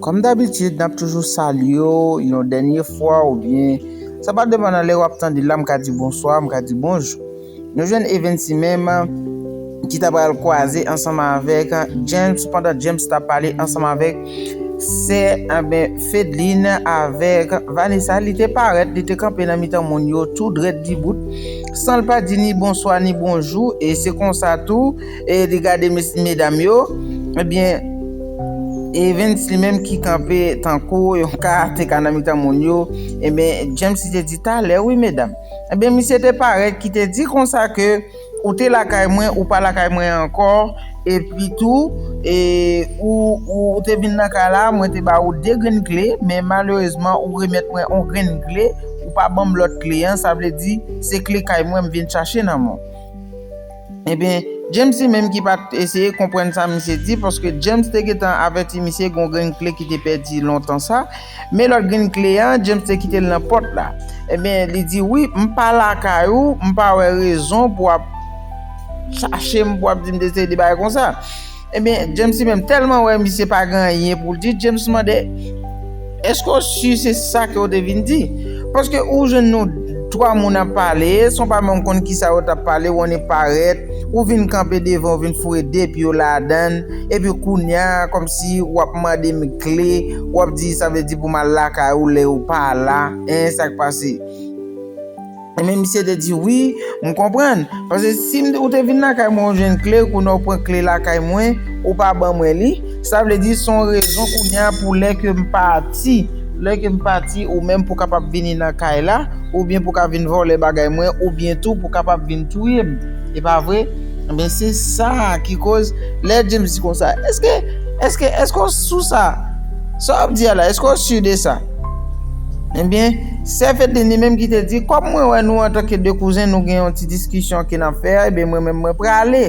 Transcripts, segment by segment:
Kòm dabitid nap toujou salye w yon dènye fwa ou byen sa pa depan nan lè wap tande l la m ka di bonswa m ka di bonjou. Nou jwenn Evensy menm ki ta pral kwaze ansanm avèk James pandan James tap pale ansanm avèk sè anben Fedline avèk Vanessa li te parèt li te kanpe nan mitan moun yo tou drèt dibout san l pa di ni bonswa ni bonjou e se konsa tou E li gade medam yo, ebyen Evens li menm ki kanpe tankou yon karateka nan mitan moun yo, ebyen James li te di talè wi medam, ebyen misye te parèt ki te di konsa ke ou te lakay mwen ou pa lakay mwen ankò, epi tou ou te vin nan kay la mwen te ba ou 2 grenn kle men malerezman ou remèt mwen yon grenn kle ou pa banm lòt kle an, sa vle di se kle kay mwen m vin chache nan men w. Ebyen, James li menm ki pa t eseye konprann sa misye di, paske James te gentan avèti misye gen yon grenn kle ki te pèdi lontan sa, men lòt grenn kle a, James te kite l nan pòt la. Ebyen, li di, Wi, m pa lakay ou, m pa wè rezon pou w ap chache m, pou w ap di m te eseye de bagay konsa. Ebyen James li menm tèlman wè misye pa gen anyen pou l di, James mande, Èske w si se sa ke w te vin di? Paske ou jwenn nou twa moun ap pale, san w pa menm konn kisa yo t ap pale, w annik parèt, ou vin kanpe devan, ou vin foure de pye w ladan l, epi kounye a, kòmsi w ap mande m kle, w ap di sa vle di pou m al lakay ou lè ou pa la, hein, sa k pase? Ebyen misye te di wi, m konprann. Paske si ou te vin lakay mwen ou jwenn kle, kounye a ou pran kle lakay mwen, ou pa ban mwen li, sa vle di se yon rezon kounye a pou lè ke m pati, lè ke m pati ou menm pou kapab vini nan kay la, oubyen pou ka vin vòlè bagay mwen, oubyen tou pou kapab vin touye m. E pa vre? Ebyen se sa ki koz lè James di konsa, eske, eske, eske w sou sa? Sa w ap di a la, eske w sur de sa? Ebyen, sè Fedlin li menm ki te di, kòm mwen wè nou antanke de kouzen nou gen yon ti diskisyon ke n ap fè a, ebyen mwen menm mwen prale.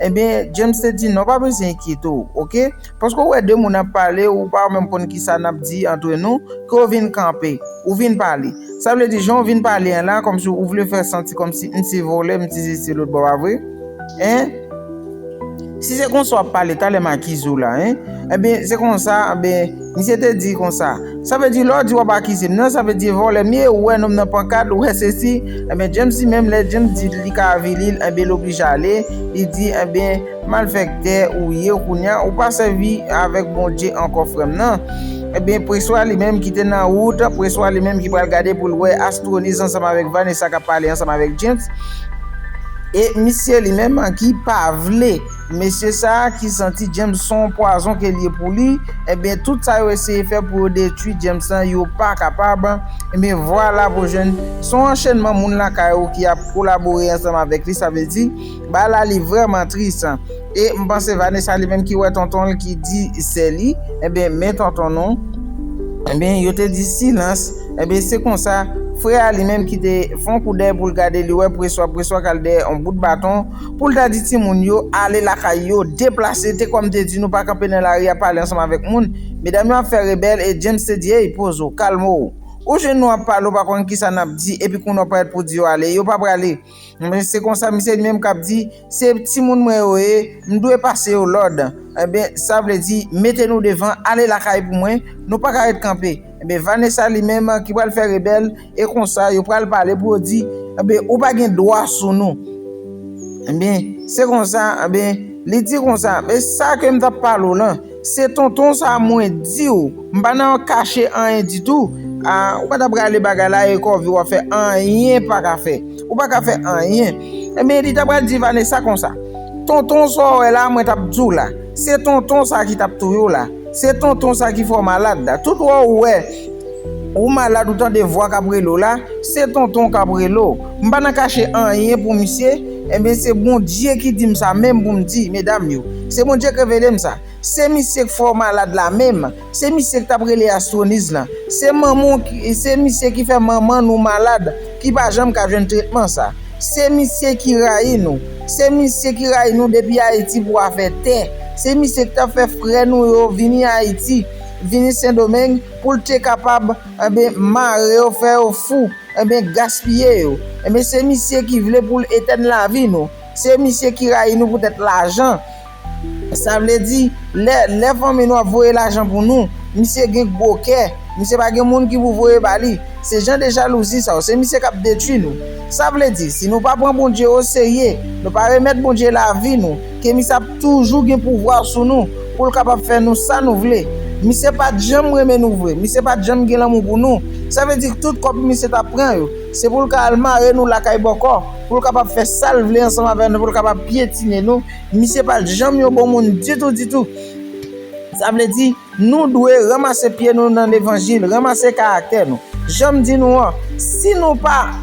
Ebyen, James te di, non pa bezwen enkyete w, oke, paske ou wè de moun ap pale, ou pa menm konn ki sa n ap di antre nou, ke w vin kanpe, ou vin pale. Sa vle di, jan w vin pale an la, kòmsi ou vle fè santi kòmsi m se vòlè, m se sesi se lòt, pa vre? Hein? Si se konsa wap pale talè m'akize w la hein Ebyen se konsa ebyen misye te di konsa Sa vle di lè w di wap akize m nan sa vle di vòlè m ye ou wè nonm nan pankad ou wè sesi Ebyen James di menm lè James di li ka avili l ebyen l oblije ale li di ebyen malfèktè ou ye kounya ou pa sèvi avèk Bondye ankò frè m nan Ebyen Preswa li menm ki te nan wout Preswa li menm ki pral gade pou l wè Astroniz ansanm avèk Vanessa kap pale ansanm avèk James E misye li menm ki pa vle. Mesye sa a ki santi James son w pwazon ke l ye pou li, ebyen tout sa yo eseye fè pou yo detwi James lan yo pa kapab, ebyen vwala pou jwenn son anchenman moun lakay ou ki ap kolabore ansanm avèk li sa vle di bagay la li vrèman tris. E m panse Vanessa li menm ki wè tonton l ki di sè li ebyen men tonton nou ebyen yo te di silans ebyen se konsa frè a li menm ki te fon koudèy pou l gade li wè preswa preswa k al dèyè on bout baton pou l ta di timoun yo ale lakay yo deplase te kòm te di nou pa kanpe nan lari a pale ansanm avèk moun medam yo ap fè rebèl e James te di ey poz ou kalme w ou jwenn nou ap pale ou pa konn kisa n ap di epi kounye w parèt pou di yo ale yo pa prale. Enben, se konsa misye li menm k ap di, Se timoun mwen yo ye, m dwe pase yo lòd. Enben, sa vle di, mete nou devan, ale lakay pou mwen, nou pa ka ret kanpe. Enben, Vanessa li menm ki pral fè rebèl, e konsa yo pral pale pou yo di, Enben, ou pa gen dwa sou nou. Enben, se konsa, enben, li di konsa, Men sa ke m t ap pale w lan. Se tonton sa mwen diw. M pa nan kache anyen ditou. Ahh ou pa tap rale bagay la e kòve wap fè anyen paka fè. Ou paka fè anyen. Ebyen li ta pral di Vanessa konsa. Tonton sa w wè la mwen tap diw la. Se tonton sa ki tap touye w la. Se tonton sa ki fè w malad la. Tout wè w wè. Ou malad ou tande vwa kap rele w la, se tonton w kap rele w. M pa nan kache anyen pou misye, enben se Bondye ki di m sa menm pou m di medam yo. Se Bondye k revele m sa. Se misye k fè w malad la menm, se misye k tap rele Astroniz lan. Se manman w ki, se misye ki fè manman nou malad ki pa janm ka jwenn tretman sa. Se misye ki rayi nou. Se misye ki rayi nou depi Ayiti pou afè tè. Se misye k tap fè frè nou yo vini Ayiti, vini Sendomeng, Poul te kapab enben mare yo fè yo fou enben gaspiye yo enben se misye ki vle poul etèn lavi nou se misye ki rayi nou poutèt lajan sa vle di lè lè fanmi nou ap voye lajan pou nou misye gen gwo kè misye pa gen moun ki pou voye ba li se jan de jalouzi sa yo se misye kap detwi nou sa vle di si nou pa pran Bondye oserye nou pa remèt Bondye lavi nou. Kemis ap toujou gen pouvwa sou nou pou l kapab fè nou sa nou vle. Misye pa t janm renmen nou vre, misye pa t janm gen lanmou pou nou. Sa vle di k tout kòb misye t ap pran yo, se pou l ka al mare nou lakay bòkò, pou l kapab fè sa l vle ansanm avè nou, pou l kapab pyetine nou. Misye pa t janm yon bon moun ditou ditou. Sa vle di. Nou dwe ranmase pye nou nan levanjil, ranmase karaktè nou. Jan m di nou an, si nou pa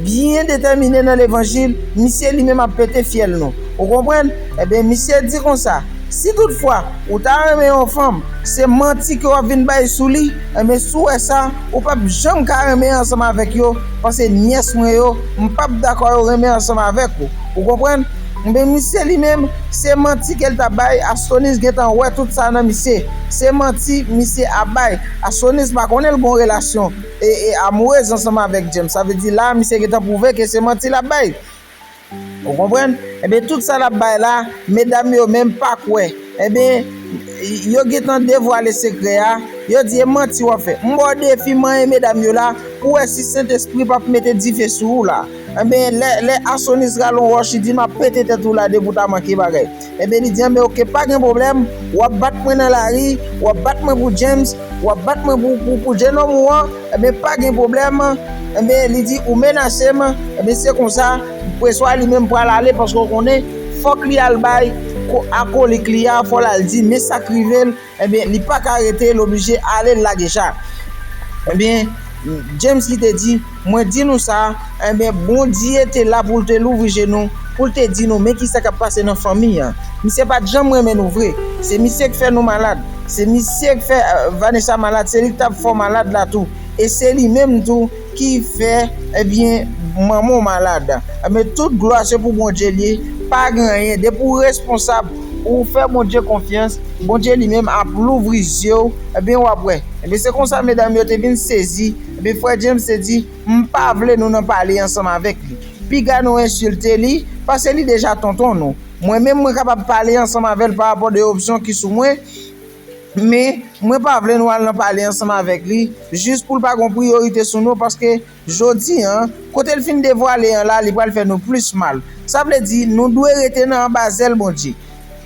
byen detèmine nan levanjil, misye li menm ap pete fyèl nou. Ou konprann? Enben, misye di konsa, Si toutfwa, ou ta renmen yon fanm, se manti ke w ap vin bay sou li, enben si w wè sa, ou pap janm ka renmen ansanm avèk yo, pase nyès mwen yo, m pap dakò yo renmen ansanm avèk ou. Ou konprann? Knbe misye li menm se manti kel tap bay astonis gentan wè tout sa nan misye se manti misye ap bay astonis pa konnen l gon relasyon amourez ansanm avek James sa vle di la misye gentan pwouve ke se manti lap bay ou konprann enben tout sa lap bay la medam yo menm pa kwè enben yo gentan devwale sekrè a yo di e manti wap fè m baw defi manyen medam yo la pou wè si sentespri pap mete dife sou ou la. Enben, lè, lè Asonis rale yon wòch, li di, M'ap pete tèt ou la depi ou ta manke bagay. Enben, li di, Enben, oke, pa gen pwoblèm, w'ap bat mwen nan lari, w'ap bat mwen pou James, w'ap bat mwen pou, pou, pou jenòm ou an, enben, pa gen pwoblèm, enben, li di, ou menase m, enben, se konsa, Preswa li menm pral ale, paske ou konnen, fòk li al bay, ko, akolik li a, fò l'al di, men sa k rive l'. Ebyen li paka rete l oblije ale lage jak ebyen James li te di mwen di nou sa ebyen Bondye te la pou l te louvri je nou pou l te di nou men kisa kap pase nan fanmi an misye pat janm renmen nou vre se misye k fè nou malad se misye k fè Vanessa malad se li k tap fè w malad la tou e se li menm tou ki fè ebyen manman w malad ebyen tout glwa se pou Bondye l ye pa gen anyen depi w responsab ou fè Bondye konfyans Bondye li menm ap louvri zye w ebyen w ap wè ebyen se konsa medam yo te vin sezi ebyen frè James te di m pa vle nou nan pale ansanm avèk li piga nou ensilte li pase li deja tonton nou mwen menm mwen kapab pale ansanm avè l parapò de opsyon ki sou mwen. Men, mwen pa vle nou al nan pale ansanm avèk li, jis pou l pa gon priyorite sou nou, paske, jodi an, kote l fin devwale an la, li pral fè nou plis mal. Sa vle di, nou dwe rete nan anba zèl Bondye.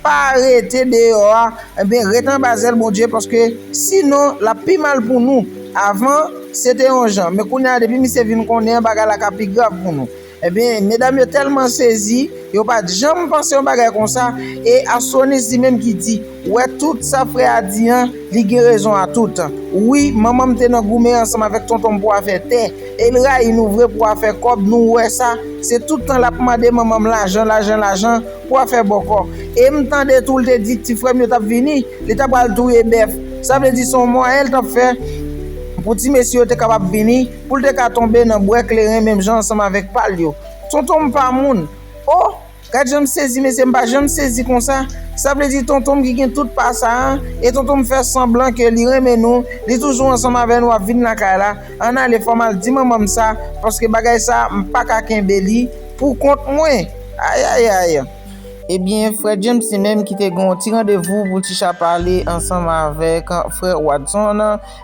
Pa rete deyò a, enben, ret anba zèl Bondye, paske, sinon, l ap pi mal pou nou. Avan, se te yon jan, men kounye a, depi misye vin konnen an, bagay la ka pi grav pou nou. Ebyen, medam yo tèlman sezi, yo pa t janm panse yon bagay konsa, e Astronis li menm ki di, wè tout sa frè a di an, li gen rezon a tout. Wi, manman m te nan goumen ansanm avèk tonton m pou afè tè, e l rayi nou vre pou afè kòb, nou wè sa, se tout tan l ap mande manman m lajan, lajan, lajan, pou afè bòkò. E m tande tou l te di ti frè m yo t ap vini, li ta pral touye bèf. Sa vle di se yon mwayen l t ap fè pou ti mesye yo te kapab vini. Pou l te ka tonbe nan bwè kleren menm jan ansanm avèk pa l yo. Tonton m pa moun! O! Gad jan m sezi mesye m pa janm sezi konsa! Sa vle di tonton m ki gen tout pa sa a e tonton m fè sanblan ke li renmen nou, li toujou ansanm avè nou ap vin lakay la, ann ale fò m al di manman m sa paske bagay sa a m pa ka kenbe li pou kont mwen! Ayayayy! Ebyen frè James li menm ki te gen yon ti randevou pou l ti chapale ansanm avèk frè Watson.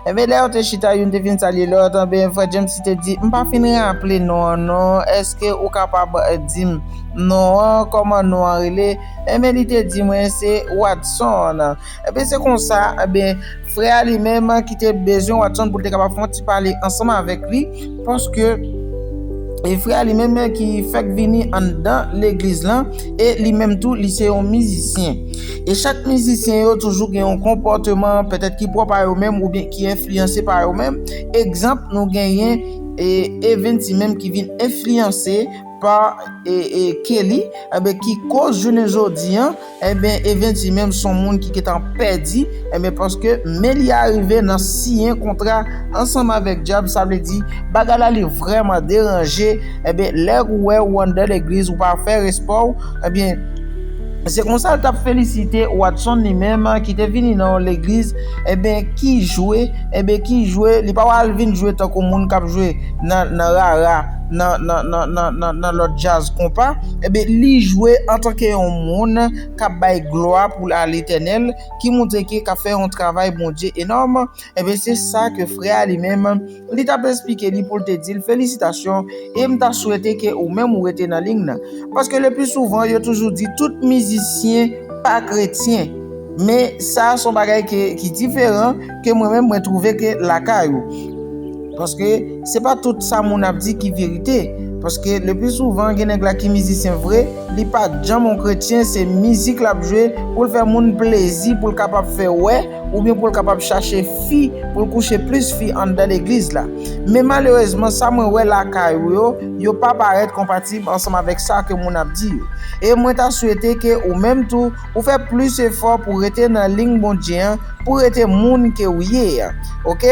Enben, lè yo te chita, youn te fin salye lòt, anben, frè James te di, M pa fin raple non an, non, èske ou kapab di m non an, kòman non an rele? Enben, li te di mwen, Se Watson. Enben, se konsa, enben, frè a li menm, ki te bezwen Watson pou l te kapab fè yon ti pale ansanm avèk li, Paske, e frè a li menm ki fèk vini anndan legliz lan, e li menm tou li se yon mizisyen. E chak mizisyen yo toujou gen yon konpòteman, petèt ki pwòp a yo menm oubyen ki enfliyanse pa yo menm. Egzanp, nou genyen Evens li menm ki vin enfliyanse pa Kelly, ki koz jounen jodi an, Enben Eventi menm son moun ki gentan pèdi, enben paske men li arive nan siyen kontra ansanm avèk dyab sa vle di bagay la li vrèman deranje, enben lè ou wè ou anndan legliz ou pa fè respè w, enben se konsa l tap felisite Watson li menm ki te vini nan yon legliz enben ki jwe, enben ki jwe li pa wè al vin jwe tankou moun kap jwe nan rara. nan nan nan nan nan nan lòt djaz konpa enben li jwe antanke yon moun kap bay glwa pou a letènèl ki moutre ke kap fè yon travay Bondye enòm enben se sa ke frè a li menm li tap esplike li poul te dil felisitasyon e m ta swete ke ou menm ou rete nan ling nan paske le pli souvan yo toujou di tout mizisyen pa kretyen men sa son bagay ke ki diferan. ke mwen menm mwen trouve ke lakay ou paske se pa tout sa moun ap di ki verite paske le plus souvent gen nèg la ki mizisyen vre li pa janm yon kretyen se mizik lap jwe poul fè moun plezi poul kapab fè wè oubyen poul kapab chache fi poul kouche plus fi anndan legliz la men malerezman sa mwen wè lakay ou yo yo pa parèt konpatib ansanm avèk sa ke moun ap di yo e mwen ta swete ke ou menm tou Ou fè plis efò pou rete nan lign Bondye an pou rete moun ke ou ye a ok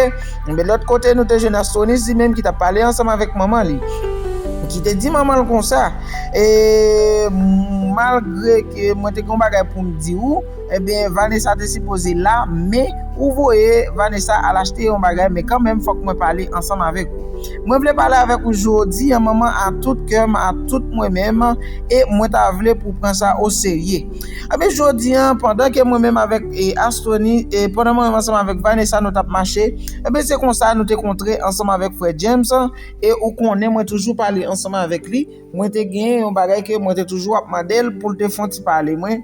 enben lòt kote nou te jwenn Astronice li menm ki tap pale ansanm avèk manman li ki te di manman l konsa eee malgre ke mwen te gen yon bagay pou m di ou enben Vanessa te sipoze la men ou voye Vanessa al achte yon bagay men kanmenm fòk mwen pale ansanm avèk ou. Mwen vle pale avèk ou jodi an manman a tout kè m a tout mwen menm e mwen ta vle pou w pran sa o serye ebyen jodi an pandan ke mwen menm avèk Astroni e pandan mwen menm ansanm avèk Vanessa nou tap mache ebyen se konsa nou te kontre ansanm avèk frè James e ou konnen mwen toujou pale ansanm avèk li mwen te gen yon bagay ke mwen te toujou ap mande l pou l te fon ti pale mwen.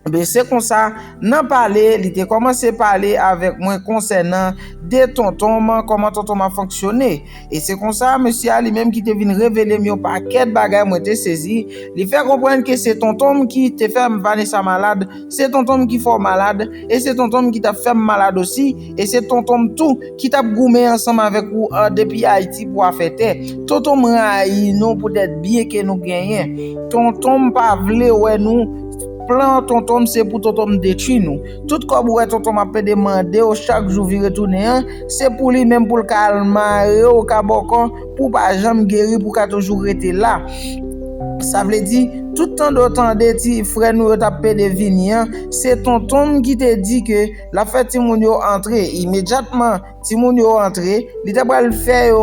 Ebyen, se konsa, nan pale, li te kòmanse pale avèk mwen konsènan de tonton m, kòman tonton m ap fonksyone. E se konsa, mesye a li menm ki te vin revele m yon pakèt bagay mwen te sezi, li fè konprann ke se tonton m ki te fè m Vanessa malad, se tonton m ki fè w malad, e se tonton m ki t ap fè m malad osi, e se tonton m tou ki t ap goumen ansanm avèk ou depi Ayiti pou afè tè. Tonton m rayi nou poutèt byen ke nou genyen. Tonton m pa vle wè nou. Plan tontonm se pou tontonm detwi nou. Tout kòb ou wè tontonm ap pede mandew chak jou vire tounen an, se pou li menm poul ka al marew kabòkò pou pa janm geri pou ka toujou rete la. Sa vle di, tout tande ou tande ti frè nou yo tap pede vini an, se tontonm ki te di ke lap fè timoun yo antre imedyatman. Timoun yo antre, li ta pral fè yo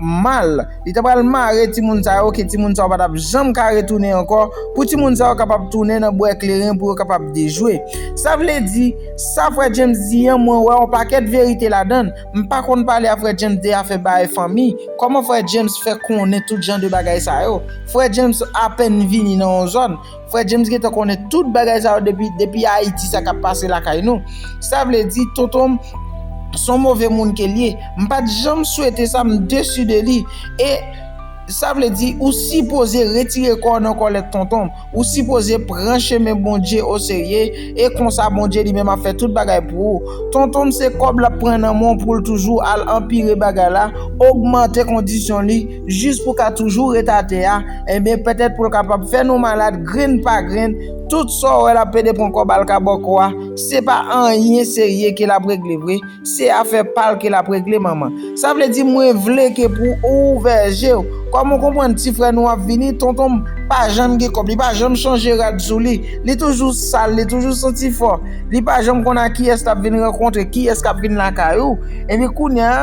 mal, li ta pral mare timoun sa yo ke timoun sa yo pa t ap janm ka retounen ankò, pou timoun sa yo kapab tounen nan bwè kleren pou yo kapab dejwe. Sa vle di, sa frè James di an, mwen wè yon pakèt verite ladan l. M pa konn pale a frè James de afè bay fanmi, kòman frè James fè konnen tout jan de bagay sa yo? Frè James apèn vini nan yon zòn. Frè James gentan konnen tout bagay sa yo depi depi Ayiti sa kap pase lakay nou. Sa vle di tonton m son move moun ke l ye. M pat janm swete sa m desu de li e Sa vle di ou sipoze retire kò w nan kòlèt tonton m. Ou sipoze pran chemen Bondye o serye e konsa Bondye li menm ap fè tout bagay pou ou. Tonton m se kòb lap pran nan men w pou l toujou al anpire bagay la, ogmante kondisyon li. jis pou ka toujou ret atè a, enben pètèt pou l kapab fè nou malad grenn pa grenn, tout sa w wè l ap plede pran kòb al ka bòkò a, se pa anyen serye ke l ap regle vre, se afè pa l ke l ap regle manman. Sa vle di mwen vle ke pou ou ouvè je w, kòm ou konprann ti frè nou ap vini, tonton m pa janm gen kòb, li pa janm chanje rad sou li, li toujou sal, li toujou santi fò, li pa janm konn a kiyès l ap vin rankontre, kiyès k ap vin lakay ou, enben kounye a,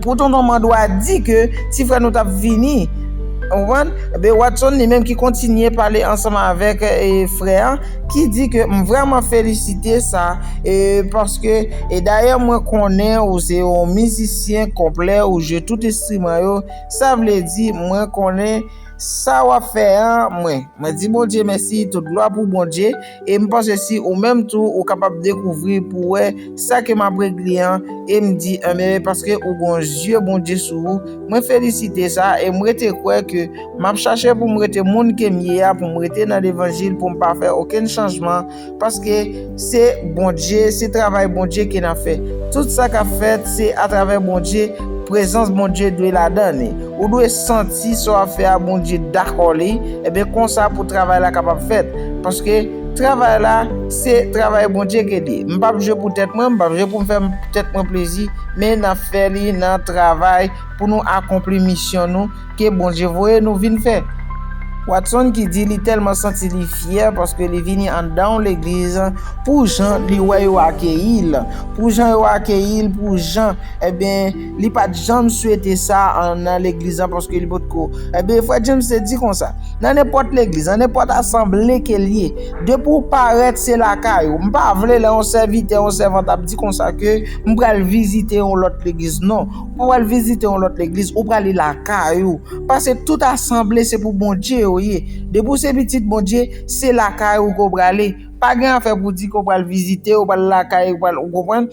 Pou tonton mandwa di ke ti frè nou t ap vini. Ou konprann? Enben Watson li menm ki kontinye pale ansanm avèk frè an ki di ke m vrèman felisite sa e paske e dayè mwen konnen ou se yon mizisyen konplè ou jwe tout enstriman yo sa vle di mwen konnen sa w ap fè an mwen mwen di Bondye mèsi tout glwa pou Bondye. E m panse si ou menm tou ou kapab dekouvri pou wè sa ke m ap regle an e m di anmeyy paske ou gon zye Bondye sou ou mwen felisite sa e m rete kwè ke m ap chache pou m rete moun ke m ye a pou m rete nan levanjil pou m pa fè okenn chanjman paske se Bondye se travay Bondye ke n ap fè tout sa k ap fèt se atravè Bondye prezans Bondye dwe ladan li. Ou dwe santi sa w ap fè a Bondye dakò li, enben konsa pou travay la kapab fèt. Paske, travay la, se travay Bondye ke li. M pa p jwe pou tèt mwen, m pa p jwe pou m fè tèt mwen plezi, men n ap fè li nan travay pou nou akonpli misyon nou ke Bondye voye nou vin fè. Watson ki di li tèlman santi li fyè paske li vini anndan legliz pou jan li wè yo akeyi l, pou jan yo akeyi l, pou jan, enben. Li pa t janm swete sa nan legliz lan paske li potko. Ebyen, frè James te di konsa, Nan nenpòt legliz, nan nenpòt asanble ke l ye, depi w parèt se lakay ou. M pa vle lè yon sèvitè, yon sèvant ap di konsa ke m pral vizite yon lòt legliz. Non, ou pa pral vizite yon lòt legliz, ou prale lakay ou. Pase tout asanble se pou Bondye yo ye. Depi w se pitit Bondye, se lakay ou ke w prale. Pa gen afè pou di ke w pral vizite, ou pral lakay, ou pral, ou konprann?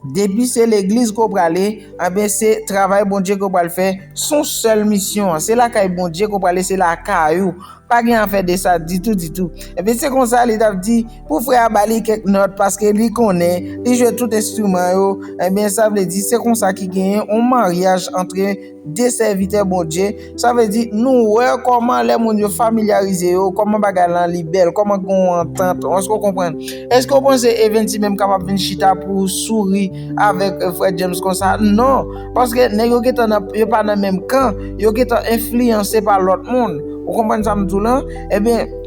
Depi se legliz ke w prale, anben se travay Bondye ke w pral fè, se yon sèl misyon, se lakay Bondye ke w prale, se lakay ou, pa gen afè de sa ditou ditou. Enben se konsa li tap di pou frè a ba li kèk nòt paske li konnen, li jwe tout enstriman yo, enben sa vle di se konsa ki genyen yon maryaj antre. 2 sèvitè Bondye, sa vle di nou wè kòman lè moun yo familyarize yo, kòman bagay lan li bèl, kòman gen yon antant, èske w konprann? Èske w panse Evens li menm kapab vin chita pou souri avèk frè James konsa? Non, paske nèg yo gentan nan, yo pa nan menm kan, yo gentan enfliyanse pa lòt moun, ou konprann sa m di w lan? Ebyen.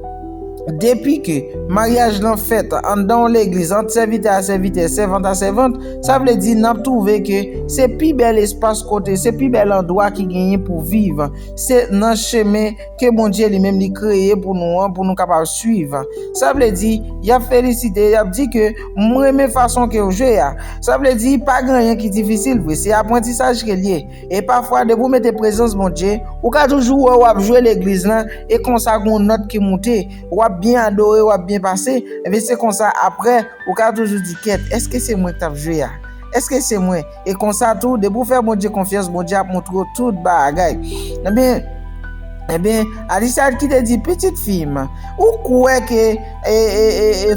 Depi ke maryaj lan fèt anndan yon legliz ant sèvitè a sèvitè, sèvant a sèvant, sa vle di n ap twouve ke se pi bèl espas kote, se pi bèl andwa ki genyen pou viv. Se nan chemen ke Bondye li menm li kreye pou nou an pou nou kapab swiv. Sa vle di, y ap felisite, y ap di ke m renmen fason ke w jwe a. Sa vle di, pa gen anyen ki difisil vre, se aprantisaj ke l ye. E pafwa depi w mete prezans Bondye, ou ka toujou wè w ap jwe legliz lan e konsa gen yon nòt ki moute, w ap byen adore, w ap byen pase, enben se konsa aprè ou ka toujou di kèt èske se mwen k t ap jwe a? Èske se mwen? E konsa tou depi w fè Bondye konfyans Bondye ap montre w tout bagay. Enben, enben, Alicia ki te di pitit fi m, ou kwè ke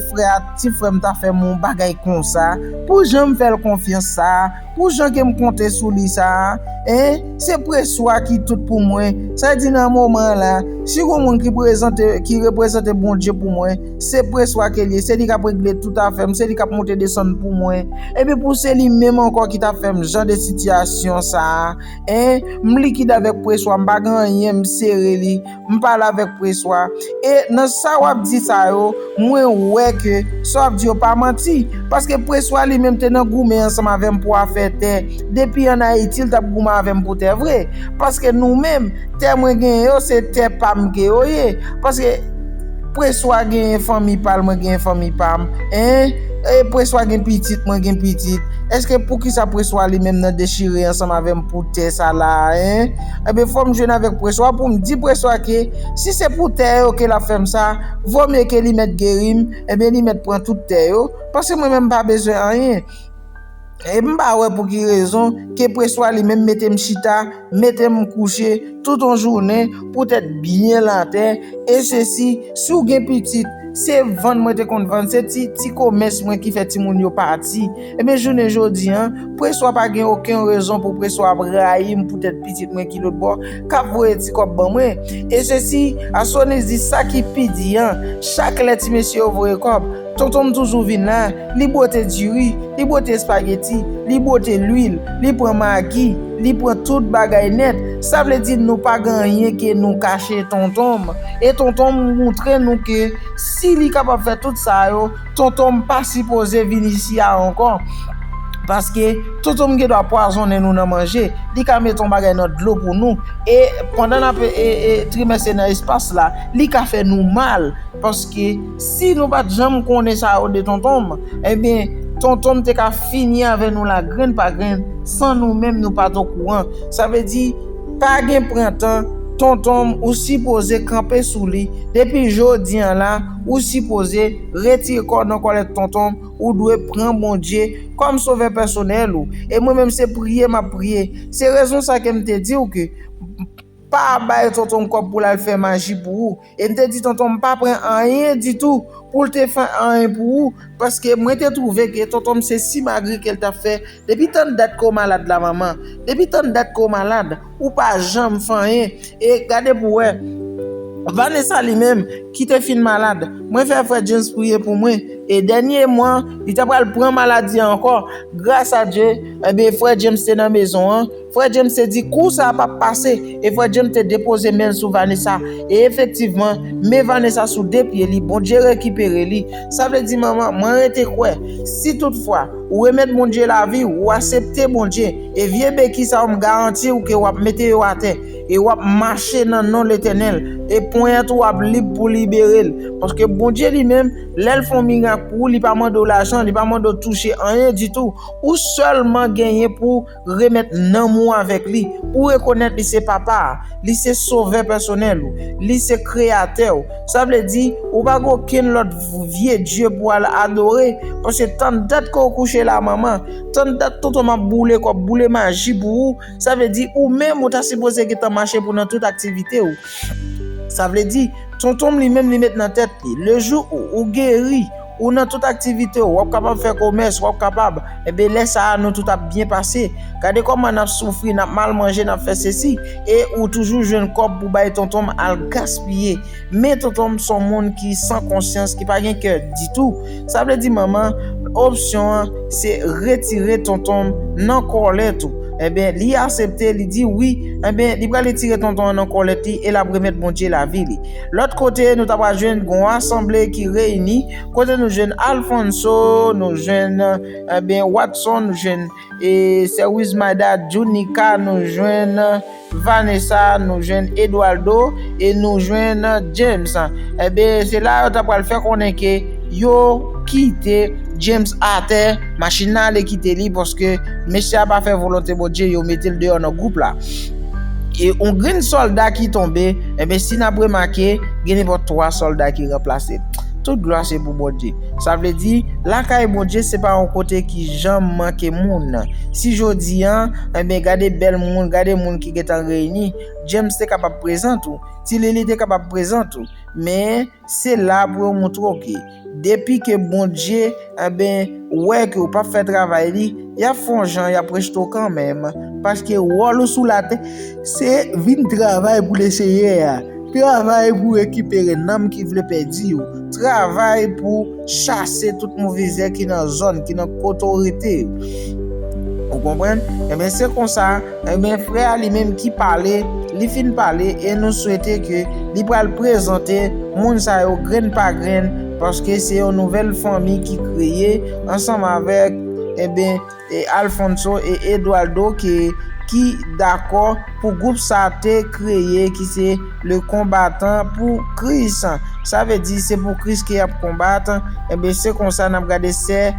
frè a, ti frè m ta fè m yon bagay konsa pou jan m fè l konfyans sa a? Pou jan ke m konte sou li sa a, eh, se Preswa ki tout pou mwen, sa vle di nan moman an la, si gon moun ki prezante, ki reprezante Bondye pou mwen, se Preswa ke l ye, se li k ap regle tout afè m, se li k ap monte desann pou mwen. Epi pou se li menm ankò ki ta fè m jan de sitiyasyon sa a, eh, m likid avèk Preswa, m pa gen anyen, m sere li. M pale avèk Preswa. E nan sa w ap di sa yo, mwen wè ke sa w ap di yo pa manti. Paske Preswa li menm te nan goumen ansanm avè m pou afè tè. Depi an Ayiti l t ap goumen avè m pou tè vre. Paske nou menm, tè mwen genyen yo se tè pa m ke yo ye. Paske Preswa genyen fanmi pa l mwen genyen fanmi pa m. Hein? E Preswa gen pitit mwen gen pitit. Eske poukisa Preswa li menm nan dechire ansanm avè m pou tè sa la a? Hein? Ebyen fòm jwenn avèk preswa poum di preswa ke si se pou tè yo ke lap fèm sa vò mye ke li mèt gerim ebyen li mèt pran tout tè yo paske mwen menm pa bezwen anyen em pa wè pou ki rezon ke preswa li menm metem chita metem kouche tout on jounen pou tèt byen la tè e sesi si ou gen pitit se vann mwen te konn vann se ti ti komès mwen ki fè ti moun yo pati. Ebyen jounen jodi an, preswa pa gen oken rezon pou preswa ap rayi m poutèt pitit mwen ki lotbò, k ap voye ti kòb ban mwen. E sesi, Asonis di sa ki pi di an, chak lè ti mesye yo voye kòb, tonton m toujou vin la, li bwote diri, li bwote espageti, li bwote lwil, li pran magi, li pran tout bagay nèt, sa vle di nou pa gen anyen ke nou kache tonton m. E tonton m montre nou ke si li kapab fè tout sa yo, Tonton m pa sipoze vin isi a ankò paske Tonton m gendwa pwazonnen nou nan manje, li ka met yon bagay nan dlo pou nou e pandan n ap trimès e nan espas la li ka fè nou mal paske si nou pa t janm konnen sa yo de Tonton m enben Tonton m te ka fini avè nou la grenn pa grenn san nou menm nou pa t okouran sa vle di pa gen pran tan Tonton m ou sipoze kanpe sou li depi jodi an la. Ou sipoze retire kòw nan kòlèt tonton m, ou dwe pran Bondye kòm sovè pèsonèl ou, e mwen menm se priye map priye, se rezon sa ke m te diw ke pa bay tonton m kòb poul al fè maji pou ou, e m te di tonton m pa pran anyen ditou poul te fè anyen pou ou, paske mwen te twouve ke tonton m se simagri kel tap fè. Depi tann dat ke w malad la manman, depi tann dat ke w malad, ou pa janm fè anyen, e gade pou wè, Vanessa li menm, ki te fin malad, mwen fè frè James priye pou mwen, e dènye mwa, li ta pral pran maladi a ankò, gras a Dye, enben frè James te nan mezon an, Frè James te di kou sa a p ap pase, e frè James te depoze men l sou Vanessa, e efektivman, men Vanessa sou de pye li, Bondye rekipere li. Sa vle di, Manman, mwen rete kwè, si tout fwa, ou remèt Bondye lavi w, ou asepte Bondye, e vye beki sa yo m garanti w ke w ap mete yo atè, e w ap mache nan non Letènèl, e ponyèt ou ap lib pou libere l. Paske Bondye li menm, lè l fè yon mirak pou ou, li pa mande w lajan, li pa mande w touche anyen ditou, ou sèlman genyen pou. Remèt nanm ou avèk Li. Ou rekonèt Li se Papa a. Li se Sovè pèsonèl ou. Li se Kreyatè ou. Sa vle di, ou pa gen okenn lòt vye dye pou w al adore, paske tann dat ke w kouche la manman, tann dat tonton m ap boule kòb, boule maji pou ou, sa vle di ou menm ou ta sipoze gentan mache pou nan tout aktivite ou. Sa vle di, tonton m li menm li met nan tèt li, le jou ou geri, Ou nan tout aktivite w, w ap kapab fè komès, w ap kapab. Enben, lè sa a, nou tout ap byen pase. Gade kòman n ap soufri, n ap mal manje, n ap fè sesi, e ou toujou jwenn kòb pou bay tonton m al gaspiye. Men tonton m s on moun ki san konsyans, ki pa gen kè ditou. Sa vle di manman, opsyon an, se retire tonton m nan kòlèt ou. Enben, li asepte, li di wi. Enben, li pral retire tonton an nan kòlèt li e l ap remèt Bondye lavi li. Lòt kote nou ta pral jwenn gon asanble ki reyini, kote nou jwenn Alfonso, nou jwenn enben Watson, nou jwenn e sè Wismada, Junica, nou jwenn Vanessa, nou jwenn Eduardo e nou jwenn James. Enben se la yo ta pral fè konnen ke yo kite James atè, machin nan ale kite li paske mesye a pa fè volonte Bondye, yo mete l deyò nan gwoup la. E yon grenn sòlda ki tonbe, enben si n ap remake, gen nenpòt 3 sòlda ki ranplase l. Tout glwa se pou Bondye. Sa vle di, lakay Bondye se pa yon kote ki janm manke moun. Si jodi a, enben gade bèl moun, gade moun ki gen tan reyini, James te kapab prezan tou, Ti Lili te kapab prezan tou. Men, Se la pou yo moutre w ke depi ke Bondye, enben, wè ke ou pap fè travay li, y ap fè yon jan y ap rejte w kanmenm. Paske wòl ou sou latè, se vin travay pou Leseyè a, travay pou rekipere nanm ki vle pèdi yo, travay pou. Chase tout move zè ki nan zòn, ki nan kot ou rete yo. Ou konprann? Enben se konsa, enben frè a li menm ki pale, li fin pale e nou swete ke li pral prezante moun sa yo grenn pa grenn paske se yon nouvèl fanmi ki kreye ansanm avèk, enben, Alfonso e Eduardo ke ki dakò pou gwoup sa te kreye ki se Le Combattant pour Christ. Sa vle di se pou Kris ke yap konbat. Enben se konsa nap gade sè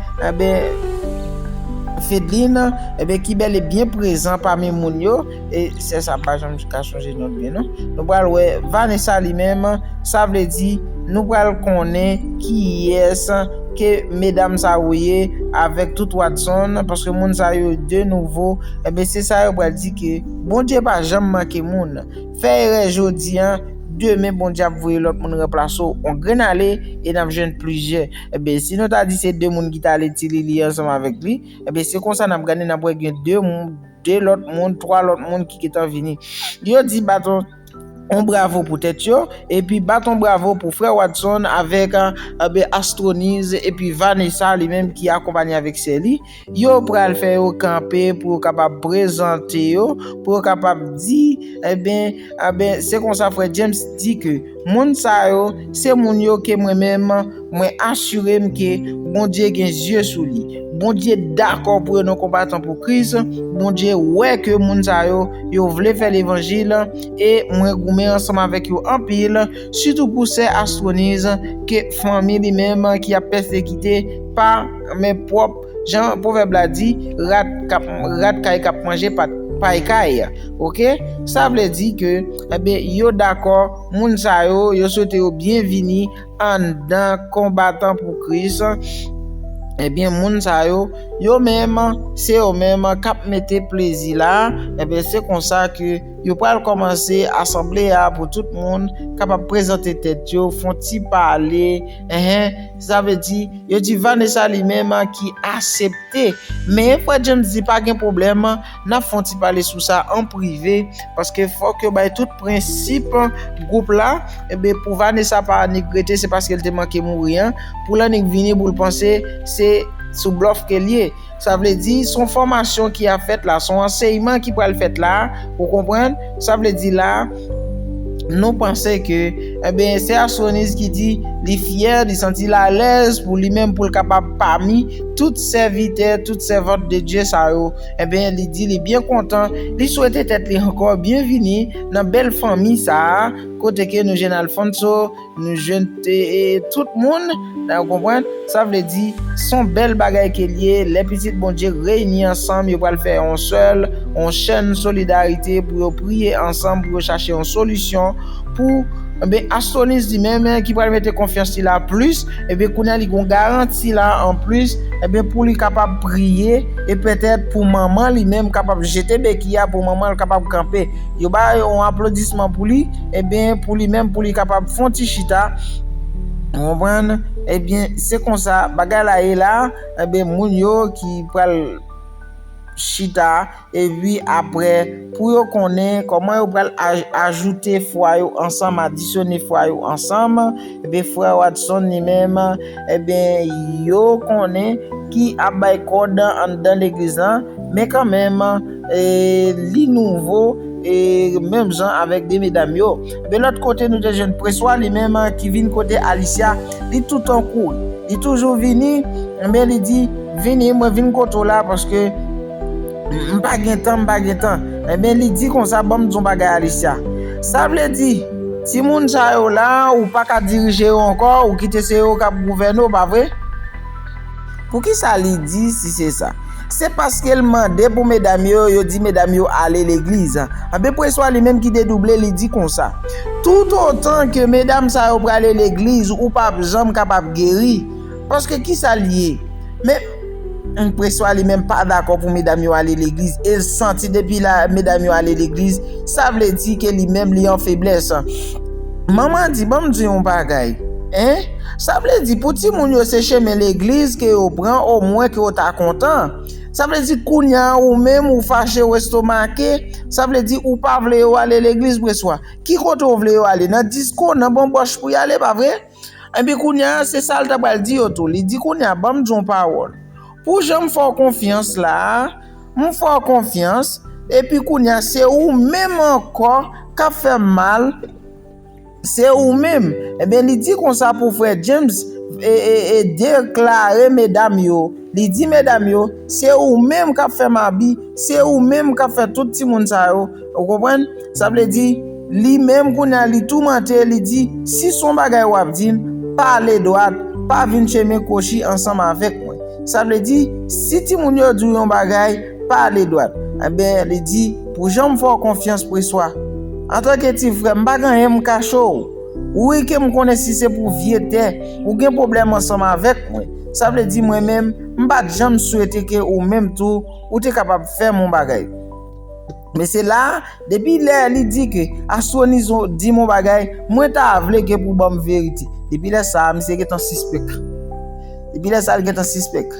Fedeline enben ki bel e byen prezan pami moun yo. E sè sa pa janm ka chanje non l byen non. Nou pral wè Vanessa li menm, sa vle di nou pral konnen kiyès ke medam sa yo ye avèk tout Watson paske moun sa yo de nouvo enben se sa yo pral di ke Bondye pa janm manke moun. Fè erè jodi an, demen Bondye ap voye lòt moun ranplase w. On grenn ale e n ap jwenn plizyè. Enben si nou ta di se 2 moun ki t ale Ti Lili ansanm avèk li, enben se konsa n ap gade n ap wè gen 2 moun. 2 lòt moun, 3 lòt moun ki gentan vini. Yo di bat on bravo pou tèt yo, epi bat on bravo pou frè Watson avèk Astroniz epi Vanessa li menm ki akonpanye avèk sè li. Yo pral fè yo kanpe pou yo kapab prezante yo, pou yo kapab di, eben, se konsa frè James di ke. Moun sa yo, se moun yo ke mwen menm, mwen asire m ke Bondye gen zye sou li. Bondye dakò pou yo nan konbatan pou Kris, Bondye wè ke moun sa yo, yo vle fè levanjil, e mwen goumen ansanm avèk yo anpil, sitou pou sè Astronise, ke fanmi li menm ki ap pèsekite pa men pwòp. Jan pwovèb la di, rat kap rat kay kap manje pat pay kay ok sa vle di ke enben yo dakò moun sa yo yo swete yo byen vini anndan konbatan pou kris enben moun sa yo yo menm se yo menm kap mete plezi la enben se konsa ke yo pral kòmanse asanble a pou tout moun kapab prezante tèt yo fon ti pale ehe Sa vle di, yo di Vanessa li menm ki asepte. Men, frè James di pa gen pwoblèm, n ap fè yon ti pale sou sa an prive, paske fòk yo bay tout prensip gwoup la, enben pou Vanessa pa annik rete se paske l te manke mouri an, pou l annik vini pou l panse se sou blòf ke l ye. Sa vle di, s on fòmasyon ki ap fèt la, s on ansèyman ki pral fèt la, ou konprann? Sa vle di la, nou panse ke, enben, se Astroniz ki di, li fyè, li santi l alèz pou li menm pou l kapab pami tout sèvitè, tout sèvant de Dye sa yo, enben, li di li byen kontan, li swete tèt li ankò byenvini nan bèl fanmi sa a, kote ke nou jèn Alphonso, Nou jwenn tout moun, nan ou konprann, sa vle di son bèl bagay ke li ye lè pitit Bondye reyini ansanm yo pral fè yon sèl, yon chèn solidarite pou yo priye ansanm pou yo chache yon solisyon pou enben Astroniz li menm ki pral mete konfyans li la plis enben kounya li gon garanti la anplis enben pou li kapab priye e pètèt pou manman li menm kapab jete beki a pou manman l kapab kanpe. Yo ba yon aplodisman pou li, ebyen pou li menm pou li kapab fon ti chita, ou konprann, ebyen se konsa bagay la ye la, ebyen moun yo ki pral chita, epi apre pou yo konnen kòman yo pral ajoute fwa yo ansanm, adisyone fwa yo ansanm, ebyen frè Watson li menm, ebyen yo konnen ki ap bay kòd anndan legliz lan, men kanmenm. Li nouvo menm jan avèk 2 medam yo. De lòt kote nou te jwenn Preswa li menm ki vin kote Alicia. Li toutan kouri. Li toujou vini men li di, vini mwen vin kote w la paske m pa gen tan, m pa gen tan. Enben li di konsa ban m di w yon bagay Alicia. Sa vle di timoun sa yo la ou pa ka dirije yo ankò, ou kite se yo k ap gouvène w pa vre? Poukisa li di si se sa? Se paske l mande pou medam yo, yo di medam yo ale legliz. Anben preswa li menm ki dedouble li di konsa, Toutotan ke medam sa yo prale legliz ou pa p janm kapab geri. Paske kisa l ye? Men, preswa li menm pa dakò pou medam yo ale legliz e l santi depi la medam yo ale legliz, sa vle di ke li menm li an feblès. Manman di, Ban m di w yon bagay, hein. Sa vle di pou ti moun yo se chemen legliz ke yo pran o mwen ke yo ta kontan, sa vle di kounya ou menm ou fache ou estomake, sa vle di ou pa vle yo ale legliz preswa ki kote ou vle yo ale nan disko, nan bonbòch pou yale pa vre? Enpi kounya se sa l ta pral di yo tou, li di kounya banm di w yon pawòl, pou jan m fè w konfyans la a, m fè w konfyans, epi kounya se ou menm ankò kap fè m mal, Se ou menm! Enben li di konsa pou frè James e deklare medam yo, li di medam yo, se ou menm kap fè mabi, se ou menm kap fè tout timoun sa yo, ou konprann, sa vle di, li menm kounye a li toumante, li di, si son bagay wap di m, pale dwat, pa vin chemen kwochi ansanm avèk mwen. Sa vle di, si timoun yo di w yon bagay, Pale dwat. Enben, li di, Pou jan m fè w konfyans, Preswa. Antanke ti frè, m pa gen anyen m kache w. Ou wi ke m konnen si se pou vye tè, ou gen pwoblèm ansanm avèk mwen. Sa vle di mwen menm, m pa t janm swete ke ou menm tou, ou te kapab fè m yon bagay. Men se la, depi lè li di ke Astroniz di m yon bagay, mwen ta vle ke pou ban m verite. Depi lè sa, misye gen tan sispèk. Depi lè sa, li gen tan sispèk.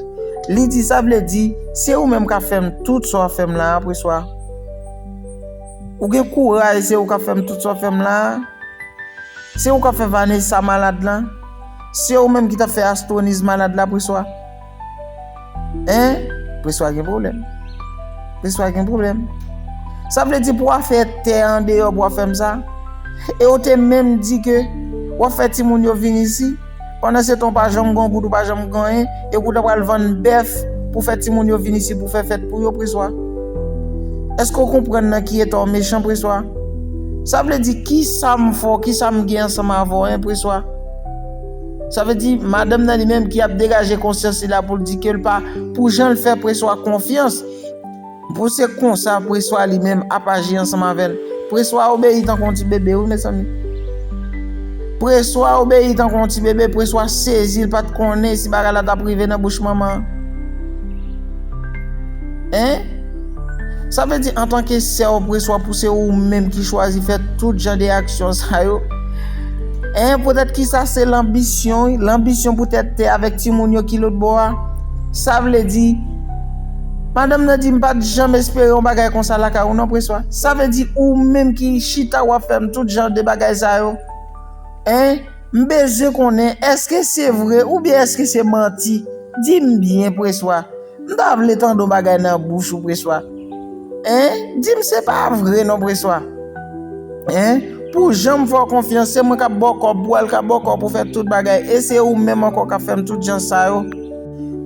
Li di, sa vle di, se ou menm k ap fè m tout sa w ap fè m la a, preswa. Ou gen kouraj, se ou k ap fè m tout sa w ap fè m la a. Se ou k ap fè Vanessa malad la. Se ou menm ki t ap fè Astroniz malad la, preswa. Hein Preswa gen problem Preswa gen problem Sa vle di pou wa fè tè an deyò pou wa fèm sa E ou te menm di ke Wa fè ti moun yo vin isi Pandan se ton pa janm gon goud ou pa janm gon en E pou ta pral vann bèf Pou fè ti moun yo vin isi pou fè fèt pou yo Preswa Eske ou konprann nan ki eta ou mechan Preswa Sa vle di ki sa m fè w ki sa m gen ansanm avè w en Preswa. Sa vle di, madanm nan li menm ki ap degaje konsyans li la pou l di ke l pa pou jan l fè Preswa konfyans, pou se konsa Preswa li menm ap aji ansanm avè l. Preswa obeyi tankou yon ti bebe wi mezanmi. Preswa obeyi tankou yon ti bebe, Preswa sezi l pa t konnen si bagay la t ap rive nan bouch manman an. Hein? Sa vle di antanke sè ou preswa pou se ou menm ki chwazi fè tout jan de aksyon sa yo, en poutèt kisa se lanbisyon wi, lanbisyon poutèt tè avèk timoun yo ki lòt bò a. Sa vle di, madanm nan di m pat janm espere yon bagay konsa lakay ou non preswa. Sa vle di ou menm ki chita wap fèm tout jan de bagay sa yo, en m bezwen konnen èske se vre oubyen èske se manti, di m byen preswa. M ta vle tande yon bagay nan bouch ou Preswa Hein Di m se pa vre non Preswa Hein Pou jan m fè w konfyans se mwen k ap ba w kòb pou w al k ap ba w kòb pou w fè tout bagay e se ou menm ankò k ap fè m tout jan sa yo.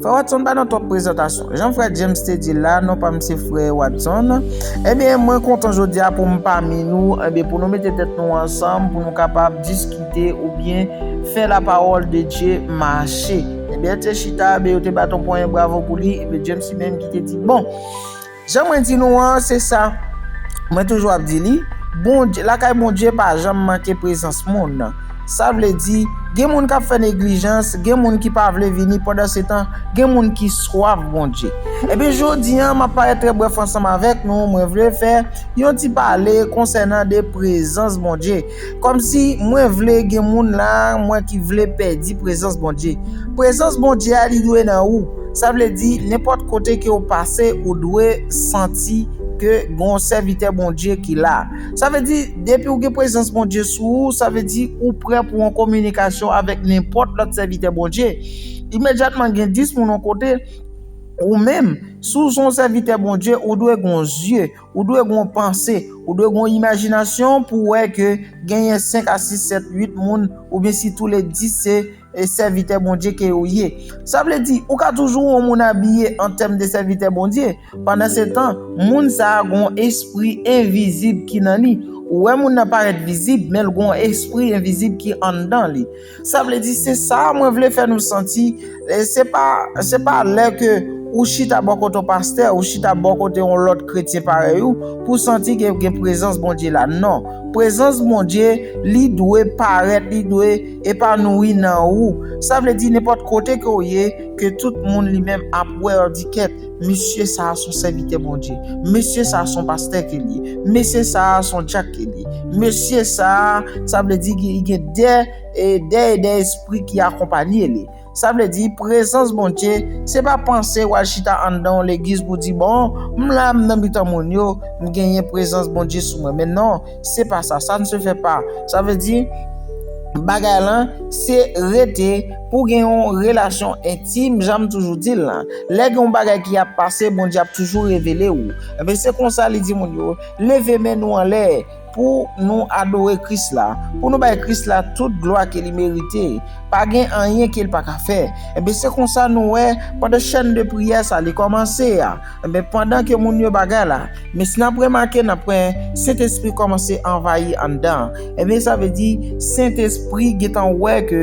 Frè Watson pa nan twòp prezantasyon. Jan frè James te di l la, non pa m se frè Watson. Ebyen mwen kontan jodi a pou m pami nou, ebyen pou nou mete tèt nou ansanm pou nou kapab diskite oubyen fè lapawòl de Dye mache. Ebyen l te chita, ebyen yo te bat yon ponyen bravo pou li, ebyen James li menm ki te di bon, jan mwen di nou an se sa mwen toujou ap di li, Bondye, lakay Bondye pa janm manke prezans moun. Sa vle di, gen moun k ap fè neglijans, gen moun ki pa vle vini, pandansetan gen moun ki swaf Bondye. Ebyen jodi an m ap parèt trè brèf ansanm avèk nou, mwen vle fè yon ti pale konsènan de prezans Bondye. Kòmsi mwen vle gen moun la mwen ki vle pèdi prezans Bondye. Prezans Bondye a li dwe nan ou. Sa vle di nenpòt kote ke ou pase ou dwe santi ke gon sèvitè Bondye ki la. Sa vle di depi ou gen prezans Bondye sou ou sa vle di ou prè pou an kominikasyon avèk nenpòt lòt sèvitè Bondye. Imedyatman gen 10 moun yon kote ou menm si w son sèvitè Bondye ou dwe gon zye Ou dwe gen yon panse, ou dwe gen yon imajinasyon pou w wè ke genyen 5 a 6, 7, 8 moun oubyen si tou le 10 se sèvitè Bondye ke yo ye. Sa vle di, ou ka toujou yon moun abiye an tèm de sèvitè Bondye, pandan se tan, moun sa a gen yon espri envizib ki nan li. Ou wè moun nan parèt vizib, men l gen yon espri envizib ki anndan li. Sa vle di se sa mwen vle fè nou santi, se pa se pa lè ke ou chita bò kote yon pastè, ou chita bò kote yon lòt kretyen parèy ou pou w santi ke gen prezans Bondye la. Non, prezans Bondye li dwe parèt, li dwe epanouyi nan ou. Sa vle di nenpòt kote ke w ye, ke tout moun li menm ap wè w di kèt. Mesye sa a son sèvitè Bondye. Mesye sa a son pastè ke l ye. Mesye sa a son dyak ke l ye. Mesye sa a, sa vle di li gen de e de espri ki akonpanye li. Sa vle di, prezans Bondye, se pa panse w al chita anndan yon legliz pou w di, Bon, m la, m nan mitan moun yo, m genyen prezans Bondye sou mwen. Men non, Se pa sa, sa n se fè pa. Sa vle di, bagay lan, se rete pou gen yon relasyon entim, jan m toujou di l lan. Lè gen yon bagay ki ap pase, Bondye ap toujou revele ou. Enben, se konsa li di moun yo, leve men nou anlè pou nou adore Kris la, pou nou bay Kris la tout glwa ke li merite. Pa gen anyen ke l pa ka fè. Enben, se konsa nou wè, pandan chèn de priyè sa li kòmanse a, Enben, pandan ke moun yo bagay la, men si n'ap remake, n'ap wè Sentespri kòmanse anvayi anndan an. Enben, sa vle di, Sentespri gentan wè ke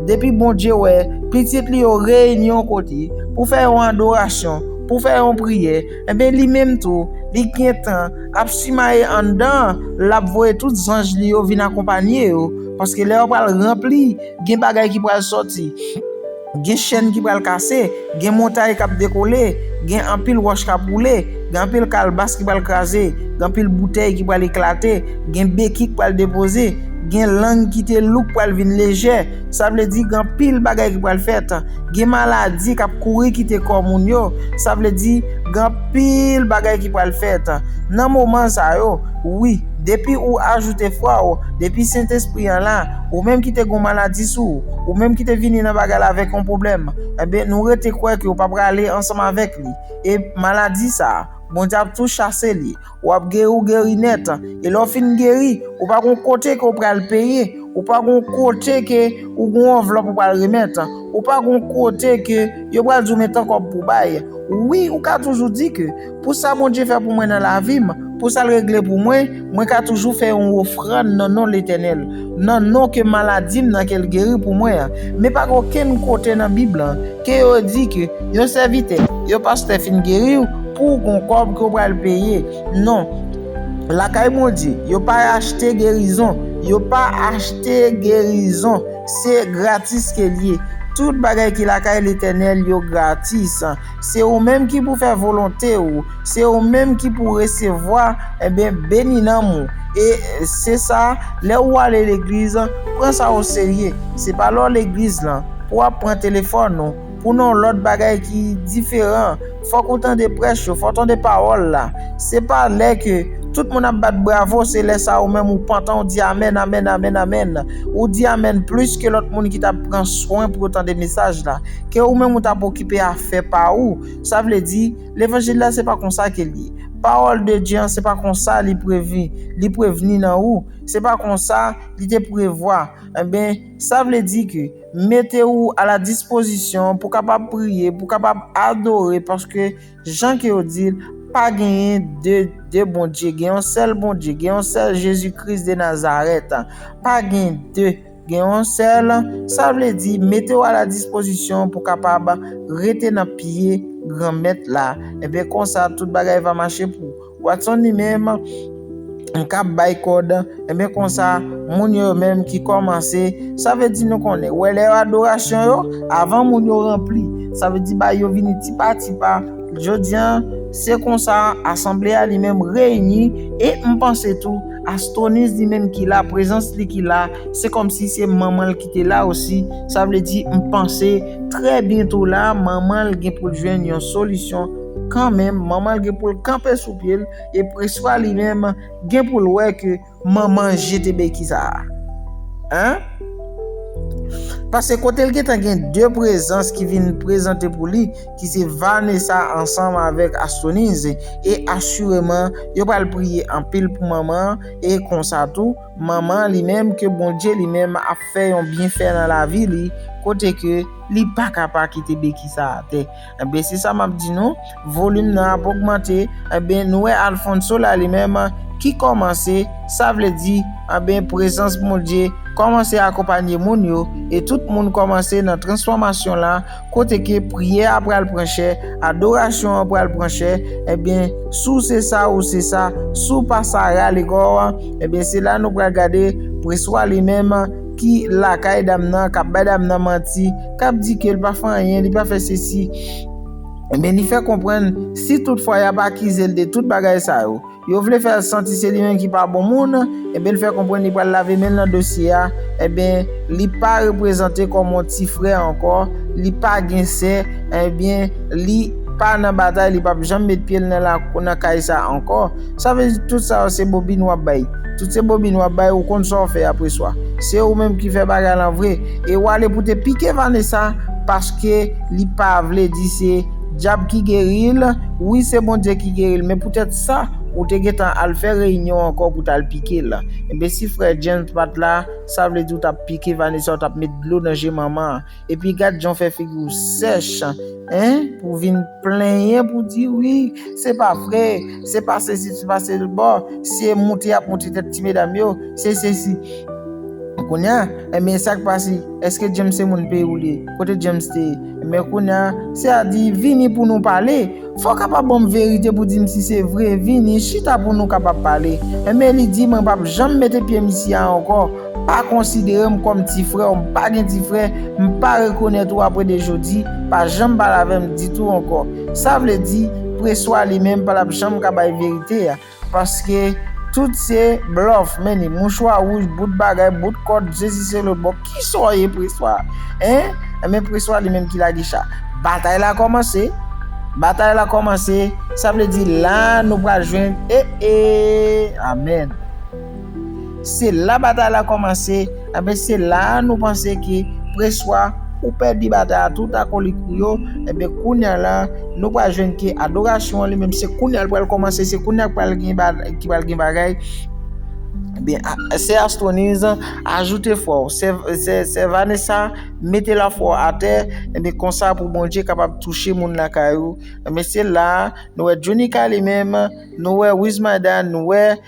depi Bondye wè pitit li yo reyini yon kote pou fè yon adorasyon, pou fè yon priyè, enben li menm tou, li gentan ap simaye anndan an, l'ap voye tout zanj li yo vin akonpanye yo, paske lè yo pral ranpli, gen bagay ki pral sòti. Gen chèn ki pral kase, gen montay k ap dekole, gen anpil wòch k ap woule, gen anpil kalbas ki pral kraze, gen anpil boutèy ki pral eklate, gen beki k pral depoze, gen lang ki te lou k pral vin lejè. Sa vle di gen anpil bagay ki pral fèt. Gen maladi k ap kouri kite kò moun yo. Sa vle di gen anpil bagay ki pral fèt nan moman sa yo. Wi. Depi ou ajoute fwa ou, depi Sentespri an la, ou menm ki te gen yon maladi sou ou, ou menm ki te vini nan bagay la avèk yon pwoblèm, enben, nou rete kwè ke ou pa prale ansanm avèk li, e, maladi sa a, Bondye ap tou chase li, ou ap geri ou geri nèt, e lè ou fin geri, ou pa gen yon kote ke ou pral peye, ou pa gen yon kote ke ou gen yon anvlòp ou pral remèt, ou pa gen yon kote ke yo pral di ou men tan kòb pou bay, wi ou ka toujou di ke. Pou sa Bondye fè pou mwen nan lavi m, pou sa l regle pou mwen, mwen ka toujou fè yon ofrann nan non Letènèl, nan non ke maladi m nan ke l geri pou mwen an. Men pa gen okenn kote nan Bib lan ke yo di ke yon sèvitè, yon pastè fin geri w pou w gon kòb ke w pral peye. Non. Lakay Bondye, yo pa achte gerizon. Yo pa achte gerizon. Se gratis ke l ye. Tout bagay ki lakay Letènèl yo gratis. Se ou menm ki pou fè volonte ou, se ou menm ki pou resevwa, enben beni nanm ou. E se sa, lè ou ale legliz, pran sa o serye. Se pa lè w legliz lan, pou w ap pran telefòn ou, pou nan w lòt bagay ki diferan. Fòk ou tande prèch yo, fò w tande pawòl la. Se pa lè ke tout moun ap bat bravo, se lè sa ou menm ou pantan ou di amèn, amèn, amèn, amèn. Ou di amèn plis ke lòt moun ki t ap pran swen pou yo tande mesaj la. Ke ou menm ou ta pokipe afè pa ou. Sa vle di, levanjil la se pa konsa ke l ye. Pawòl de Dye an se pa konsa li previ, li prevni nan ou. Se pa konsa li te prevwa. Enben, sa vle di ke mete ou a la dispozisyon pou kapab priye, pou kapab adore paske jan ke yo di l, pa genyen de de Bondye. Gen yon sèl Bondye, gen yon sèl Jezi Kris de Nazarèt. Pa gen de. Gen yon sèl, sa vle di mete w a la dispozisyon pou kapab rete nan pye Granmèt la. Enben konsa tout bagay va mache pou Watson li menm m kab bay kòd, enben konsa moun yo yo menm ki kòmanse, sa vle di nou konnen wè lè adorasyon yo, avan moun yo ranpli, sa vle di bagay yo vini ti pa ti pa, jodi an se konsa asanble a li menm reyini e m panse tou Astonis di menm ki la, prezans li ki la, se kòmsi se manman l ki te la osi, sa vle di m panse trè byento la manman l gen pou l jwenn yon solisyon kanmenm, manman l gen pou l kanpe sou pye l e Preswa li menm gen pou l wè ke manman l jete beki sa a. An? Pase kote l gentan gen de prezans ki vin prezante pou li, ki se Vanessa ansanm avèk Astonize e asireman yo pral priye anpil pou manman an e konsa tou manman li menm ke Bondye li menm ap fè yon byenfè nan lavi li kote ke li pa ka pa kite beki sa atè enben se sa map di nou volim nan ap ogmante enben nou wè Alfonso la li menm ki kòmanse sa vle di enben prezans Bondye kòmanse akonpanye moun yo e tout moun kòmanse nan transfòmasyon la. Kote ke priyè a pral pran chè, adorasyon an pral pran chè, ebyen si w se sa ou se sa, si w pa sa rale kò w, ebyen se la nou pral gade Preswa li menm ki lakay dam nan, kap bay dam nan manti, kap di ke l pa fè anyen, li pa fè sesi, ebyen li fè konprann si tout fwa yap akize l de tout bagay sa yo, Yo vle fè l santi se li menm ki pa bon moun, enben l fè konprann li pral lave men l nan dosye a, enben li pa reprezante kòm yon ti frè ankò, li pa gen sè, enben li pa nan batay, li pap janm met pye l nan lakou nan kay sa ankò. Sa vle di tout sa yo se bobin w ap bay. Tout se bobin w ap bay, ou konn sa w fè apreswa. Se ou menm ki fè bagay lan vre. E w ale pou te pike Vanessa paske li pa vle di se. Dyab ki geril, wi se Bondye ki geril men poutèt sa ou te gentan al fè reyinyon ankò pou tal pikel, enben si frè James pat la sa vle di ou tap pike Vanessa ou tap met dlo nan je manman an, epi gad jan ou fè figi ou sèch hein pou vin plenyen pou di wi se pa vre se pa sesi se pa sel bo se moute yap moute tèt ti medam yo se sesi kounya enben sak pase eske James se moun peyi ou li ye kote James te ye Men kounya se a di vini pou nou pale Fò kapab banm verite pou dim si se vre Vini chita pou nou kapab pale Enben li di mwen pap janm mete pyem isi a ankò Pa konsiderem kòm ti frè w m pa gen ti frè M pa rekonèt ou apre de jodi Pa janm pale avè m ditou ankò Sa vle di preswa li menm pa l ap janm ka bay verite a. Paske tout se blof meni mouchwa rouj bout bagay bout kòd jezi se lòt bò kisa w ye preswa hein enben preswa li menm ki lage cha batay la kòmanse batay la kòmanse sa vle di la nou pral jwenn eee amen. Se la batay la kòmanse, enben se la a nou panse ke preswa ou pèdi batay a tout akolik ou yo, enben kounya la nou pral jwenn ke adorasyon an li menm se kounya li pral kòmanse, se kounya ki pral gen bagay, ki pral gen bagay, enben sè Astroniz ajoute fwa w, sè Vanessa mete lafwa w atè, enben konsa pou Bondye kapab touche moun lakay ou, enben se la a nou wè Djonika li menm, nou wè Wizmada, nou wè.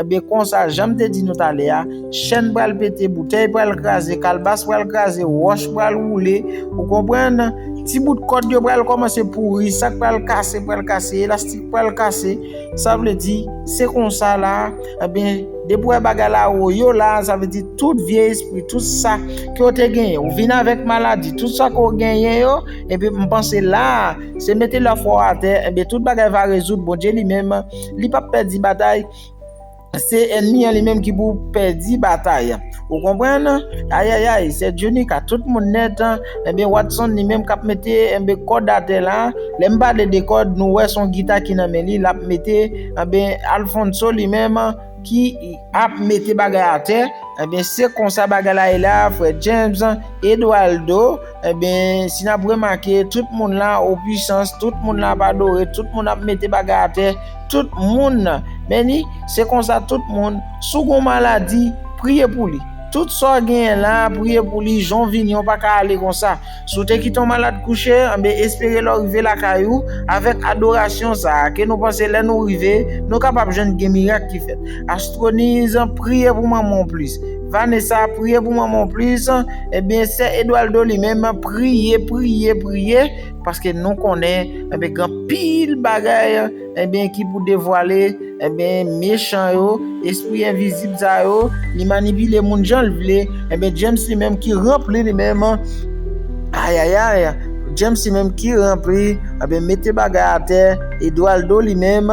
Ebyen konsa janm te di nou talè a, chèn pral pete, boutèy pral kraze, kalbas pral kraze, wòch pral woule, ou konprann, ti bout kòd yo pral kòmanse pouri, sak pral kase pral kase, elastik pral kase, sa vle di se konsa la, ebyen depi ou wè bagay la wou yo la, sa vle di tout vye espri, tout sa ke ou te genyen, ou vin avèk maladi, tout sa ke ou genyen yo, ebyen m panse la, se mete lafwa ou atè, ebyen tout bagay va rezoud, Bondye li menm. li pap pèdi batay, se enmi an li menm ki pou pèdi batay an, ou konprann? Ayayay, sè Djounie ka tout moun nèt, enben Watson li menm kap mete enbe kòd atè la, lè m pale de kòd nou wè son gita ki nan men li lap mete, enben Alphonso li menm ki ap mete bagay atè, enben se konsa bagay la ye la frè James, Edwaldo. Ebyen si nap remake tout moun la o pwisans, tout moun la ap adore, tout moun ap mete bagay atè, tout moun nan beni, se konsa tout moun si w gon maladi priye pou li, tout sa w genyen la priye pou li, jan w vini w pa ka ale konsa, si w te kite yon malad kouche ebyen espere lè w rive lakay ou avèk adorasyon sa a ke nou panse lè nou rive nou kapab jwenn gen mirak ki fèt. Astronise priye pou manman w plis. Vanessa priye pou mwen mon plus ebyen sè Edualdo li menm priye priye priye paske nou konnen ebyen gen anpil bagay ebyen ki pou devwale ebyen mechan yo espri envizib sa yo li manipile moun janl vle ebyen James li menm ki ranpli li menm ayayay James li menm ki ranpli ebyen mete bagay atè Edualdo li menm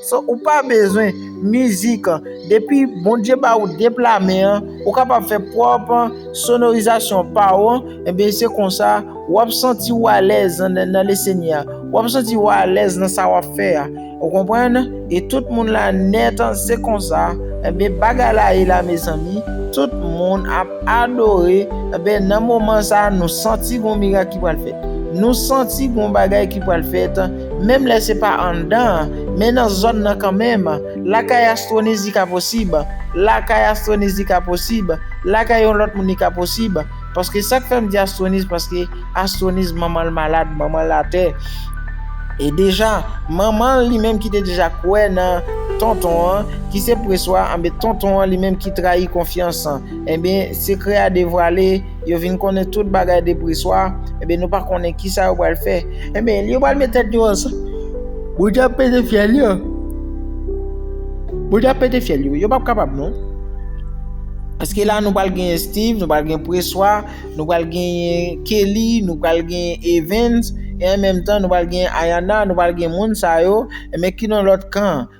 So ou pa bezwen mizik depi Bondye ba ou de pla men an ou kapab fè pwòp sonorizasyon pa ou an ebyen se konsa wap santi ou alèz nan le Senyè a wap santi ou alèz nan sa wap fè a ou konprann e tout moun la nèt se konsa ebyen bagay la ye la mezanmi tout moun ap adore ebyen nan moman sa nou santi gon mirak ki pral fèt nou santi gon bagay ki pral fèt. Menm lè se pa anndan an, men nan zòn nan kanmenm, lakay Astroniz li ka posib, lakay Astroniz li ka posib, lakay yon lòt moun li ka posib, paske sa k fè m di Astroniz paske Astroniz manman l malad, manman l atè, e deja manman l li menm ki te deja kwè nan Tonton an ki se Preswa, anben Tonton an li menm ki trayi konfyans, anben sekrè a devwale. Yo vin konnen tout bagay depre swa, enben nou pa konnen ki sa yo pral fè. Enben, yo pral met tèt yo ansanm. Bondye ap pete fyèl yo. Bondye ap pete fyèl yo. Yo pap kapab non. Paske la nou pral gen Steve, nou pral gen Preswa, nou pral gen Kelly, nou pral gen Evans, e an menm tan nou pral gen Ayana, nou pral gen moun sa yo, enben ki nan lòt kan an.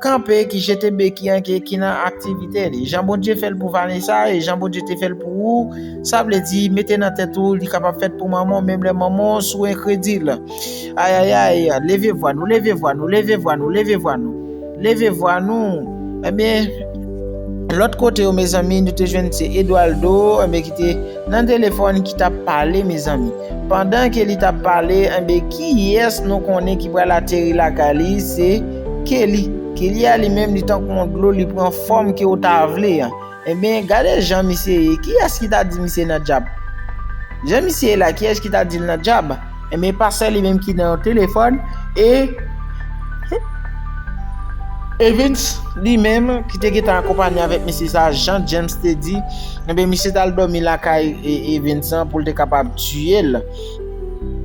Kanpe ki jete beki an ke ki nan aktivite li. Jan Bondye fè l pou Vanessa e jan Bondye te fè l pou ou, sa vle di mete nan tèt ou li kapab fèt pou manman w menm lè manman w sou enkredil. Ayayay, leve vwa nou, leve vwa nou, leve vwa nou, leve vwa nou, leve vwa nou. Ebyen, lòt kote yo mezanmi nou te jwenn se Edwaldo, ebyen ki te nan telefòn ki t ap pale mezanmi. Pandan ke li tap pale enben kiyès nou konnen ki pral ateri lakay li se Kelly Kelly a li menm li tankou yon dlo li pran fòm ke ou ta vle an enben gade jan misye ye kiyès ki ta di misye nan djab jan misye ye la kiyès ki ta dil nan djab enben pastè li menm ki nan yon telefòn e Evens li menm ki te gentan akonpanye avèk mesye sa jan James te di. Enben, misye t al dòmi lakay Vincent pou l te kapab tiye l.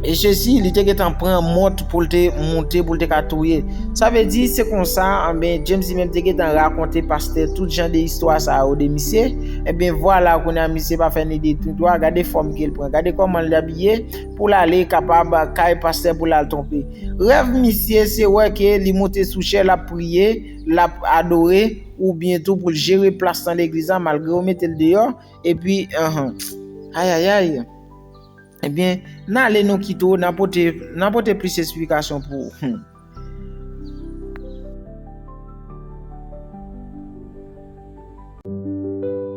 E Jezi, li te gentan pran mòt pou l te moute pou l te ka touye. Sa vle di, se konsa, enben, James li menm te gentan rakonte pastè tout jan de istwa sa yo de misye. Enben, vwala, kounye a misye pa fè ni de ni dwa, gade fòm ke l pran, gade kòman l abiye pou l ale kapab kay pastè pou l al twonpe. Rèv misye se wè ke li moute sou chè l ap priye, l ap adore oubyen tou pou l jere plas nan legliz la malgre yo mete l deyò epi ayayayy ebyen n ale nou kite w nan pote nan pote plis esplikasyon pou ou.